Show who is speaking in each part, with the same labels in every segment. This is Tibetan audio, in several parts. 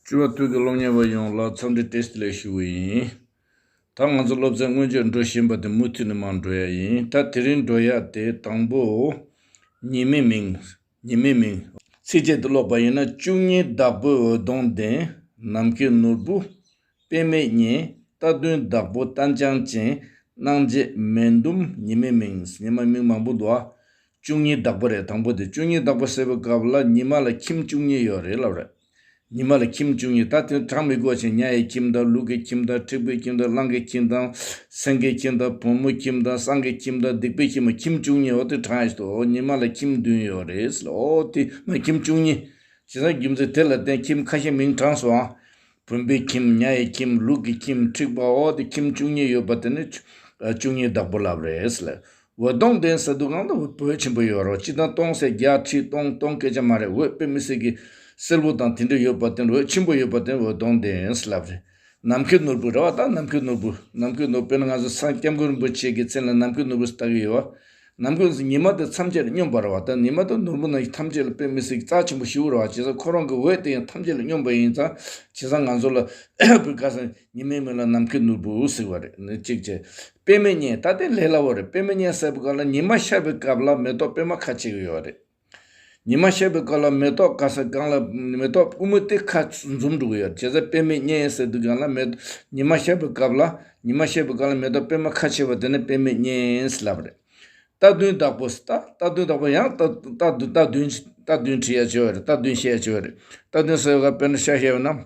Speaker 1: བཅུ་བ་དུས་ཀྱི་སློབ་གཉེར་བ་ཡོངས་ལ་འཚམས་འདྲི Test ལེགས་ཞུ་བ་ཡིན། ད་ང་ཚོ་སློབ་ཚན་སྔོན་ཆད་འགྲོ་བཞིན་པ་དེ་མུ་མཐུད་ནས་མར་འགྲོ་ཡ་ཡིན། ད་དེ་རིང་འགྲོ་ཡག་དེ་དང་པོ། ཉི་མའི་མིང། ཉི་མའི་མིང། ཚིགས་བཅད་དུ་ཀློག་པ་ཡིན་ན་བཅུ་གཉིས་བདག་པོའི་འོད་སྟོང་ལྡན། ནམ་མཁའི་ནོར་བུ། དཔེ་མེད་བརྙན། རྟ་བདུན་བདག་པོ་རྟ་འཕྱང་ཅན། སྣང་བྱེད་མེ་ཟླུམ་ཉི་མའི་མིང། ཉི་མ་མིང་མང་པོ་འདུག་ཨ། བཅུ་གཉིས་བདག་པོ་རེད་དང་པོ་དེ་བཅུ་གཉིས་བདག་པོ་ཟེར་བའི་སྐབས་ལ་ཉི་མ་ལ་ཁྱིམ་བཅུ་གཉིས་ཡོད་རེད་ལབ་རེད། ཉི་མ་ལ་ཁྱིམ་བཅུ་གཉིས་ད་དེ་གྲངས་མི་དགོས་ཕྱིན་གཉའ་ཡི་ཁྱིམ་དང་ལུག་གི་ཁྱིམ་དང་ཁྲི་པུའི་ཁྱིམ་དང་གླང་གི་ཁྱིམ་དང། སེང་གེའི་ཁྱིམ་དང་བུ་མོ་ཁྱིམ་དང་སྲང་གི་ཁྱིམ་དང་སྡིག་པའི་ཁྱིམ་མོ་ཁྱིམ་བཅུ་གཉིས་འོ་དེ་གྲངས་ཡོད་དོ་ཉི་མ་ལ་ཁྱིམ་བདུན་ཡོད་རེད་ཟེར་ལ་འོ་དེ་མ་ཁྱིམ་བཅུ་གཉིས། བྱས་ཙང་རྒྱུ་མཚན་དེ་ལ་བརྟེན་ཁྱིམ་ཁ་ཤས་མིང་གྲངས་སུའང་བུམ་པའི་ཁྱིམ་མྱ་ཡི་ཁྱིམ་ལུག་གི་ཁྱིམ་འཁྲིག་པ་འོག་ཏུ་ཁྱིམ་བཅུ་གཉིས་ཡོད་པ་དེ་ནི་བཅུ་གཉིས་བདག་པོ་ལབ་རེད། འོད་སྟོང་ལྡན་ས་དུ་གང་དུ་བོད་ཆེན་པོ་ཡོད་རོགས་སྤྱི་དང་སྟོང་ཟེར་བརྒྱ་ཁྲི་སྟོང་སྟོང་སྐད་ཆ་མ་རེད་འོད་དཔེ་མི་སྲིད་གི། སེར་བོ་དང་དེ་འདྲ་ཡོད་པ་དེ་འོད་ཆེན་པོ་ཡོད་པ་དེ་འོད་སྟོང་ལྡན་ལབ་རེད། ནམ་མཁའི་ནོར་བུ་རེད་བ་ད་ནམ་མཁའི་ནོར་བུ་ནམ་མཁའི་ནོར་དཔེ་ནི་ང་ཚོ་སངས་སྐྱབས་མགོན་རིན་པོ་ཆེ་གི་མཚན་ལ་ནམ་མཁའི་ནོར་བུ་ཟེར་ལྟ་གི་ཡོད། ནམ་གུང་གི་ཉི་མ་དེ་མཚམས་བཅད་ལ་སྙོམས་པར་བ་དང་ནི་མ་དང་ནོར་བུ་རྣམས་ཀྱི་ཐམས་ཅད་ལ་དཔེ་མི་སྲིད་ཀྱི་རྩ་ཆེན་པོ་བཞི་བོར་བ་བྱས་ཙང་ཁོ་རང་གི་འོད་དེ་ཡང་ཐམས་ཅད་ལ་སྙོམས་པ་ཡིན་ཙང་བྱས་ཙང་ང་ཚོ་ལ་བུ་ག་ས་ཉི་མའི་མིང་ལ་ནམ་མཁའི་ནོར་བུ་ཟེར་བ་རེད་ནི་གཅིག་བྱས། དཔེ་མི་རྙེད་ད་ལྟའི་ལས་སླ་བོ་རེད་དཔེ་མི་རྙེད་ཟེར་བ་ག་ལ་ཉི་མ་ཤར་བའི་སྐབས་ལ་མེ་ཏོག་དཔེ་མ་ཁ་ཕྱེ་གི་ཡོད་རེད། ཉི་མ་ཤར་བའི་སྐབས་ལ་མེ་ཏོག་དཀར་སེར་བཀང་ལ་མེ་ཏོག་སྤུས་མོ་སྟེ་ཁ་འཛུམ་དྲུག་ཡོད་བྱེད་ས་པད་མའི་གཉན་ཡིན་ཟེར་དུས་གང་ལ་མེ་ཉི་མ་ཤར་བའི་སྐབས་ལ་ཉི་མ་ཤར་བའི་སྐབས་ལ་མེ་ཏོག་པད་མ་ཁ་ཕྱེ་བ་དེ་ནི་པད་མའི་གཉན་ཡིན་ཟེར་ལབ་རེད། རྟ་བདུན་བདག་པོ་རྟ་རྟ་བདུན་བདག་པོ་ཡང་རྟ་རྟ་རྟ་བདུན་བདུན་བྲི་ཡ་བྱེད་བ་རེད་རྟ་བདུན་བཤད་བྱེད་བ་རེད་རྟ་བདུན་ཟེར་བའི་སྐབས་པད་མ་ཤ་ཤེ་བ་ན།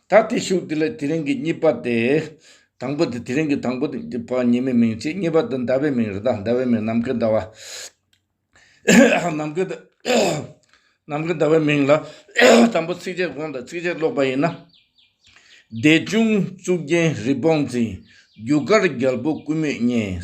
Speaker 1: ད་ལྟའི་ཤུགས་དེ་ལ་དེ་རིང་གི་གཉིས་པ་སྟེ། དང་པོ་དེ་དེ་རིང་གི་དང་པོ་དེ་གཉིས་པ་ཉི་མའི་མིང་ཅན་གཉིས་པ་དེ་ཟླ་བའི་མིང་རེད་ད་ཟླ་བའི་མིང་ནམ་མཁའི་ཟླ་བ། ནམ་མཁའི་ཟླ་ནམ་མཁའི་ཟླ་བའི་མིང་ལ་དང་པོ་ཚིགས་བཅད་དགོངས་དང་ཚིགས་བཅད་ཀློག་པ་ཡིན་ན། བདེ་འབྱུང་གཙུག་རྒྱན་རི་བོང་འཛིན། རྒྱུ་སྐར་རྒྱལ་པོ་ཀུ་མུད་བརྙན།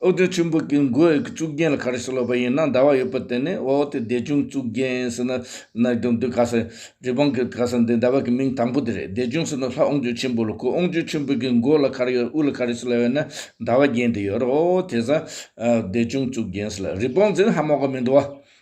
Speaker 1: ཨོ་དོད་ཆེན་པོ་གི་མགོའི་གཙུག་རྒྱན་ལ་ག་རེ་ཞིག་ལོག་པ་ཡིན་ན་ཟླ་བ་ཡོད་པ་དེ་ནི་འོག་དེ་བདེ་ཆུང་གཙུག་རྒྱན་ཟེར་ན་ནག་གི་མདུད་ག་ས་ཡིན། རི་བོང་གི་ག་ས་འདི་ཟླ་བ་གི་མིང་དང་པོ་དེ་རེད་བདེ་ཆུང་ཟེར་ན་ལྷ་ཨོང་ཆོས་ཆེན་པོ་ལ་གོ་ཨོང་ཆོས་ཆེན་པོ་གི་མགོ་ལ་ག་རེ་ཡོད་དབུ་ལ་ག་རེ་ཞིག་ལ་ཡོད་ན་ཟླ་བ་རྒྱན་དེ་ཡོད་རོ་དེ་ས་བདེ་ཆུང་གཙུག་རྒྱན་ཟེར་ལ་རི་བོང་ཟེར་ན་ཧ་མོག་ག་མི་འདུག་བ།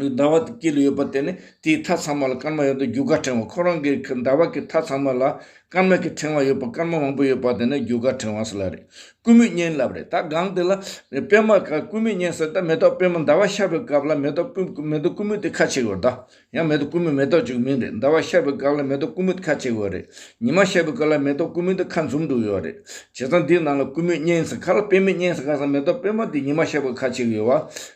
Speaker 1: ཟླ་བ་དེ་དཀྱིལ་ཡོད་པ་དེ་ནི་དེའི་མཐའ་ཚང་མ་ལ་སྐར་མ་ཡོད་དོ་རྒྱུ་སྐར་ཕྲེང་བ་ཁོ་རང་གི་ཟླ་བ་གི་མཐའ་ཚང་མ་ལ་སྐར་མ་གི་ཕྲེང་བ་ཡོད་པ་སྐར་མ་མང་པོ་ཡོད་པ་དེ་ནི་རྒྱུ་སྐར་ཕྲེང་བ་ཟེར་ལ་རེད། ཀུ་མུད་བསྙེན་བསླབ་རེད་ད་གང་དེ་ལ་པད་མ་ག་ཀུ་མུད་བསྙེན་ཟེར་ད་མེ་ཏོག་པད་མ་ཟླ་བ་ཤར་བའི་སྐབས་ལ་མེ་ཏོག་ཀུ་ཀུ་མེ་ཏོག་ཀུ་མུད་དེ་ཁ་ཕྱེ་དགོས་ད། ཡང་མེ་ཏོག་ཀུ་མུད་མེ་ཏོག་ཅིག་མིན་རེད་ཟླ་བ་ཤར་བའི་སྐབས་ལ་མེ་ཏོག་ཀུ་མུད་ཁ་ཕྱེ་དགོས་རེད། ཉི་མ་ཤར་བའི་སྐབས་ལ་མེ་ཏོག་ཀུ་མུད་དེ་ཁ་འཛུམ་འདུག་ཡོད་རེད། བྱས་ཙང་འདིའི་ནང་ལ་ཀུ་མུད་བསྙེན་ཟེར་ག་ལ་པད་མུད་བསྙེན་ཟེར་ག་ཟེར་མེ་ཏོག་པད་མ་དེ་ཉི་མ་ཤར་བའི་ཁ་ཕྱེ་གི་ཡོད་བ།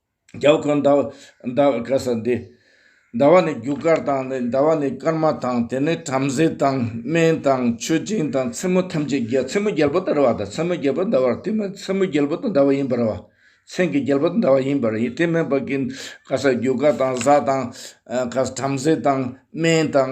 Speaker 1: རྒྱལ་བ་ཁོན་ཟླ་བ་ག་ས་འདི། ཟླ་བ་ནི་རྒྱུ་སྐར་དང་ནི་ཟླ་བ་ནི་སྐར་མ་དང་དེ་ནི་བྲམ་ཟེ་དང་སྨན་དང་མཆོད་སྦྱིན་དང་མཚན་མོ་ཐམས་ཅད་རྒྱལ་མཚན་མོ་རྒྱལ་པོ་ལྟར་བ་དང་མཚན་མོ་རྒྱལ་པོ་འདའ་བར་དེ་མིན་མཚན་མོ་རྒྱལ་པོ་དང་འདའ་བ་ཡིན་པར་བ། མཚན་གྱི་རྒྱལ་པོ་དང་འདའ་བ་ཡིན་པར་ཡིན་དེ་མིན་པ་ཀུན་ག་ས་རྒྱུ་སྐར་དང་གཟའ་དང་ག་ས་བྲམ་ཟེ་དང་སྨན་དང་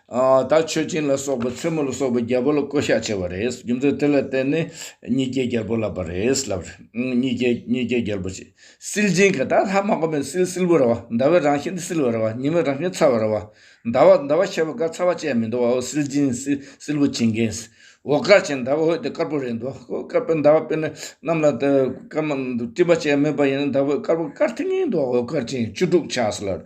Speaker 1: ད་མཆོད་སྦྱིན་ལ་སོགས་པ་མཚན་མོ་ལ་སོགས་པ་རྒྱལ་པོ་ལ་བསྐོ་བཞག་བྱས་པ་རེད། རྒྱུ་མཚན་དེ་ལ་བརྟེན་ནས་གཉིས་སྐྱེས་རྒྱལ་པོ་ལབ་པ་རེད་ལབ་རེད། གཉིས་སྐྱེས་གཉིས་སྐྱེས་རྒྱལ་པོ་ཆེ། སིལ་སྦྱིན་གྱི་ད་ལྷག་མ་གོ་མེད་སིལ་སིལ་བུ་ར་བ་ཟླ་བའི་རང་བཞིན་དུ་སིལ་བ་ར་བ་ཉི་མའི་རང་བཞིན་ཚ་བ་ར་བ། ཟླ་བ་ཟླ་བ་ཤེས་པ་དགའ་ཚ་བ་ཅན་མི་འདུག་བ་འོ་སིལ་སྦྱིན་སིལ་སིལ་བུ་བྱིན་གྱིས། འོ་དཀར་ཅན་ཟླ་བ་འོད་དེ་དཀར་པོ་རེད་འདུག་བ་འོ་དཀར་པོ་ཟླ་བ་དཔེར་ན་གནམ་ལ་དེ་སྐར་མ་སྤྲིན་པ་ཅན་མེད་པ་ཡིན་ན་ཟླ་བ་འོད་དཀར་པོ་དཀར་ཐིང་ཐིང་འདུག་བ་འོ་དཀར་ཅན་བཅུ་དྲུག་ཆགས་སོ་ལབ་རེད།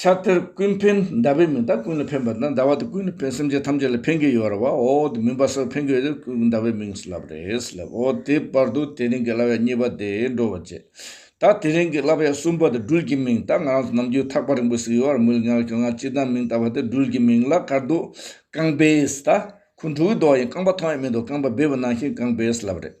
Speaker 1: ཕྱག་དེར་ཀུན་ཕན་ཟླ་བའི་མིང་དང་ཀུན་ལ་ཕན་པ་དང་ཟླ་བ་དེ་ཀུན་ལ་ཕན་སེམས་ཅན་ཐམས་ཅད་ལ་ཕན་གྱི་ཡོད་ར་བ་འོ་དེ་མིན་པ་སོགས་ཕན་གྱི་ཡོད་དེ་ཀུན་ཟླ་བའི་མིང་སུ་ལབ་རེས་ལབ་འོ་དེ་བར་དུ་དེ་རིང་གི་བསླབ་ཡག་གཉིས་པ་དེ་འགྲོ་བར་བྱེད། ད་དེ་རིང་གི་བསླབ་ཡག་གསུམ་པ་དེ་སྦྲུལ་གྱི་མིང་ད་ང་རང་ཚོ་ནམ་རྒྱུན་ཐག་པ་རིང་པོ་ཟིག་ཡོད་བར་མི་ལ་ཉག་གི་ཁྱོད་ང་གཅིག་དང་མིང་བཏགས་པ་དེ་སྦྲུལ་གྱི་མིང་ལ་དཀར་འདུག་རྐང་པས་ད་ཁུ་འབྲུག་གི་མདོག་ཡིན་རྐང་པ་མཐོང་ཡས་མི་འདུག་རྐང་པ་སྦས་པ་ནང་བཞིན་རྐང་པས་ལབ་རེད།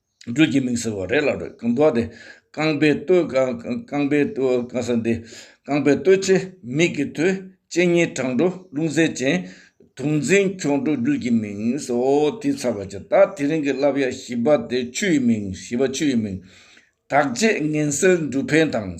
Speaker 1: སྦྲུལ་གྱི་མིག་ཟེར་བ་རས་ལ་རོལ་གང་འདུག་དེ། རྐང་པའི་སྟོད། རྐང་པའི་སྟོད་གང་ཟེར་འདི། རྐང་པའི་སྟོད་ཆེ་མིག་གི་དོད། ལྕེ་གཉིས་བྲང་འགྲོ་རླུང་གཟེར་ཅན། དུག་འཛིན་འཁྱོག་འགྲོ་སྦྲུལ་གྱི་མིག། ཨོ་དེ་ཚར་བ་ཅི་ད་དེ་རིང་གི་བསླབ་ཡ་བཞི་པ་དེ་ཆུ་ཡི་མིག་བཞི་པ་ཆུ་ཡི་མིག། དག་བྱེད་ངན་སེལ་འབྲུ་འཕེན་དང།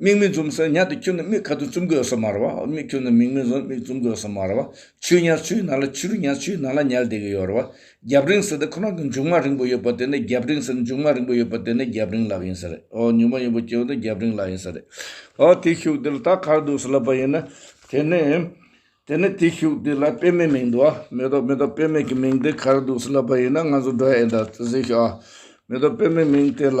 Speaker 1: མིག་མི་འཛུམ་ཟེར་ཉག་དེ་ཁྱོད་ནི་མིག་ག་དུས་འཛུམ་དགོས་སོ་མ་རེད་བ། མིག་ཁྱོད་ནི་མིག་མི་འཛུམ་མིག་འཛུམ་དགོས་སོ་མ་རེད་བ། ཆུ་ཉག་ཆུའི་ནང་ལ་ཆུ་རུ་ཉག་ཆུའི་ནང་ལ་ཉལ་བསྡད་ཀྱི་ཡོད་རེད་བ། རྒྱབ་རིང་ཟེར་དེ་ཁོ་རང་གི་མཇུག་མ་རིང་པོ་ཡོད་པ་དེ་ནི་རྒྱབ་རིང་ཟེར་མཇུག་མ་རིང་པོ་ཡོད་པ་དེ་ནི་རྒྱབ་རིང་ལག་ཡིན་ས་རེད། ཨོ་མཇུག་མ་རིང་པོ་ཁྱོད་ནི་རྒྱབ་རིང་ལག་ཡིན་ས་རེད། ཨོ་དེ་ཤུག་དེ་ལ་ད་གར་འདུག་ཟེར་ལབ་པ་ཡིན་ན། དེ་ནི། དེ་ནི་དེ་ཤུག་དེ་ལ་དཔེ་མེད་མིང་འདུག་ཨ། མེ་ཏོག་མེ་ཏོག་དཔེ་མེད་ཀྱི་མིང་དེ་གར་འདུག་ཟེར་ལབ་པ་ཡིན་ན་ང་ཚོ་འགྲོ་ཡ་ཨེ་འདྲ། གཟིགས་ཤོག་ཨ། མེ་ཏོག་དཔེ་མེད་མིང་དེ་ལ།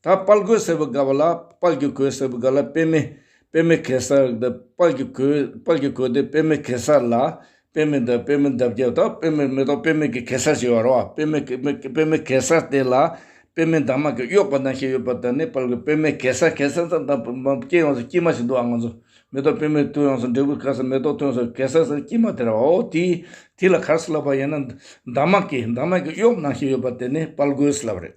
Speaker 1: ད་དཔལ་གོས་ཟེར་བའི་སྒ་བ་ལ་དཔལ་གྱི་གོས་ཟེར་བའི་སྒ་ལ་དཔེ་མེད། དཔེ་མེད་གེ་སར་འདི་དཔལ་གྱི་གོས་དཔལ་གྱི་གོས་འདི་དཔེ་མེད་གེ་སར་ལ། དཔེ་མེད་འདི་དཔེ་མེད་འདབ་བརྒྱད་དང་དཔེ་མེད་མེ་ཏོག་དཔེ་མེད་ཀྱི་གེ་སར་ཞེས་བར་བ་དཔེ་མེད་དཔེ་མེད་དཔེ་མེད་གེ་སར་དེ་ལ་དཔེ་མེད་འདབ་མ་གི་གཡོགས་པ་དང་ཞེས་ཡོད་པ་དེ་ནི་དཔལ་གོས་དཔེ་མེད་གེ་སར་གེ་སར་ཙམ་དང་དཔེ་མེད་སྐྱེས་ཡོངས་སུ་སྐྱིད་མ་ཞིག་འདུག་ཨང་ང་ཚོ་མེ་ཏོག་དཔེ་མེད་ཐོན་ཡོངས་སུ་འབྲས་བུའི་ཁར་ས་མེ་ཏོག་ཐོན་སོང་གེ་སར་ས་སྐྱིད་མ་དེ་ར་བའོ་དེ་དེ་ལ་གར་སི་ལབ་པ་ཡིན་ན་འདབ་མ་གི་འདབ་མ་གི་གཡོགས་ནང་ཞེས་ཡོད་པ་དེ་ནི་དཔལ་གོས་སི་ལབ་རེད།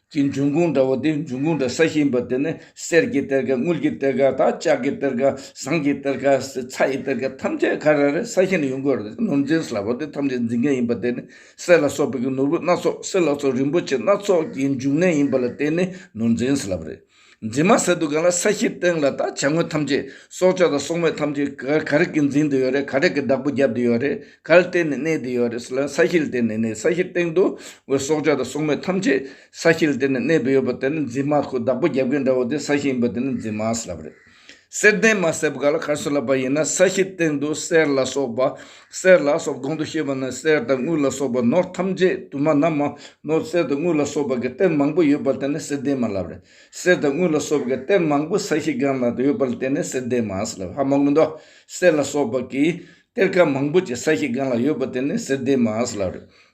Speaker 1: གྱི་འབྱུང་ཁུངས་འདྲ་བོ་སྟེ་འབྱུང་ཁུངས་འདྲ་ས་ཞིག་ཡིན་པ་དེ་ནི་གསེར་གྱི་གཏེར་ཁ་དངུལ་གྱི་གཏེར་ཁ་དང་ལྕགས་ཀྱི་གཏེར་ཁ་ཟངས་ཀྱི་གཏེར་ཁ་ཚྭ་ཡི་གཏེར་ཁ་ཐམས་ཅད་ཁ་ར་རའི་ས་ཞིང་ནས་ཡོང་གི་རེད་ནོར་འཛིན་ཟླ་བ་དེ་ཐམས་ཅད་འཛིན་མཁན་ཡིན་པ་དེ་ནི་གསེར་ལ་སོགས་པའི་ནོར་བུ་སྣ་ཚོགས་གསེར་ལ་སོགས་རིན་པོ་ཆེ་སྣ་ཚོགས་ཀྱི་འབྱུང་གནས་ཡིན་པ་ལ་བརྟེན་ནས་ནོར་འཛིན་ཟླ་བ་རེད། འཛིན་མ་ཟེར་འདུག་ག་ལ་ས་གཞིའི་སྟེང་ལ་ད་བྱ་དངོས་ཐམས་ཅད་སྲོག་ཆགས་དང་སྲོག་མེད་ཐམས་ཅད་ག་ག་རེ་གིས་འཛིན་དུ་ཡོད་རེད་ག་རེ་གིས་བདག་པོ་རྒྱབ་དུ་ཡོད་རེད་ག་ལ་བརྟེན་ནས་གནས་དུ་ཡོད་རེད་ཟེར་ལ་ས་གཞི་ལ་བརྟེན་ནས་གནས་ས་གཞིའི་སྟེང་དུ་འོད་སྲོག་ཆགས་དང་སྲོག་མེད་ཐམས་ཅད་ས་གཞི་ལ་བརྟེན་ནས་གནས་དུ་ཡོད་པ་དེ་ནི་འཛིན་མ་ཁོ་བདག་པོ་རྒྱབ་མཁན་འདྲ་བོ་དེ་ས་གཞི་ཡིན་པ་དེ་ནི་འཛིན་མ་ཟེར་བ་རེད། གསེར་ལྡན་མ་གསེར་བག་ལ་ཁར་སོ་ལ་བ་ཡིན་ན་ས་གཞིའི་སྟེང་དུ་གསེར་ལ་སོགས་པ་གསེར་ལ་སོགས་གོང་དུ་བཤད་པ་ན་གསེར་དང་དངུལ་ལ་སོགས་པ་ནོར་ཐམས་ཅད་དུ་མ་ན་མ་ནོར་གསེར་དང་དངུལ་ལ་སོགས་པ་གི་གཏེར་མང་པོ་ཡོད་པར་བལྟས་ན་གསེར་ལྡན་མ་ལབ་རེད་གསེར་དང་དངུལ་ལ་སོགས་པ་གི་གཏེར་མང་པོ་ས་གཞི་སྒང་ལ་ཡོད་པར་བལྟས་ན་གསེར་ལྡན་མ་གསེར་ལ་བྷ་མ་ཀུན་ཏུ་གསེར་ལ་སོགས་པ་གི་གཏེར་ཁ་མང་པོ་ཅིག་ས་གཞི་སྒང་ལ་ཡོད་པར་བལྟས་ན་གསེར་ལྡན་མ་གསེར་ལ་རེད་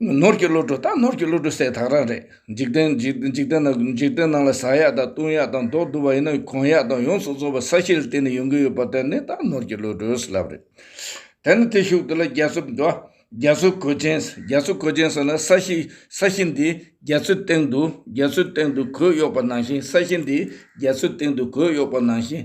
Speaker 1: ནོར་གྱི་བློ་གྲོས་དང་ནོར་གྱི་བློ་གྲོས་ཟད་དག་རང་རེད། འཇིག་རྟེན་འཇིག་རྟེན་ནང་ལ་ཟག་ཡག་དང་བཏུང་ཡག་དང་མདོག་བསྡུ་བ་ཡིན་ན་གོན་ཡག་དང་ཡོངས་སུ་རྫོགས་པའི་ས་གཞི་ལ་བརྟེན་ནས་ཡོང་གི་ཡོད་པ་དེ་ནི་དང་ནོར་གྱི་བློ་གྲོས་ལབ་རེད། དེ་ནི་དེ་ཤུགས་དེ་ལ་རྒྱ་མཚོ་འགྲོ། རྒྱ་མཚོའི་གོས་ཅན། རྒྱ་མཚོའི་གོས་ཅན་ཟེར་ན་ས་གཞི་ས་གཞི་འདི་རྒྱ་མཚོའི་སྟེང་དུ་རྒྱ་མཚོའི་སྟེང་དུ་གོས་གཡོགས་པ་ནང་བཞིན་ས་གཞི་འདི་རྒྱ་མཚོའི་སྟེང་དུ་གོས་གཡོགས་པ་ནང་བཞིན་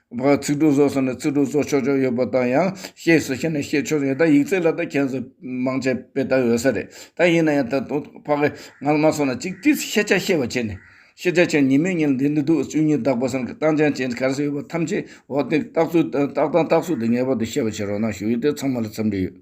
Speaker 1: བར་ཚིག་འབྲུ་བཟོ་ས་ནས་ཚིག་འབྲུ་བཟོ་ཆོག་ཆོག་ཡོད་པ་དང་ཡང་ཤེས་སུ་ཤེས་ནས་ཤེས་ཆོག་ཡོད་ད་ཡིག་རྩལ་ལ་ད་མཁྱེན་སོ་མང་ཆེ་བས་ད་འོས་ས་རེད་ད་ཡིན་ན་ཡང་ད་དུང་ཕ་གི་ང་ལ་མ་སོང་ན་ཅིག་ཅིག་ཤེས་ཆ་ཤེས་པ་བྱེད་ནས་ཤེས་ཆ་བྱས་ཉིན་མོའི་ཉིན་འདི་འདི་འདུག་བཅུ་གཉིས་དག་པ་སང་གི་སྟངས་ཅན་ཅན་ག་རེ་ཡོད་པ་ཐམས་ཅད་འོ་དེ་རྟགས་ཚུལ་རྟགས་དང་རྟགས་ཚུལ་དེ་ངེས་པར་དུ་ཤེས་པ་བྱེད་རོགས་གནང་ཞུ་ཡིག་དེ་ཚང་མ་ལ་འཚམས་འདྲི་ཡོད།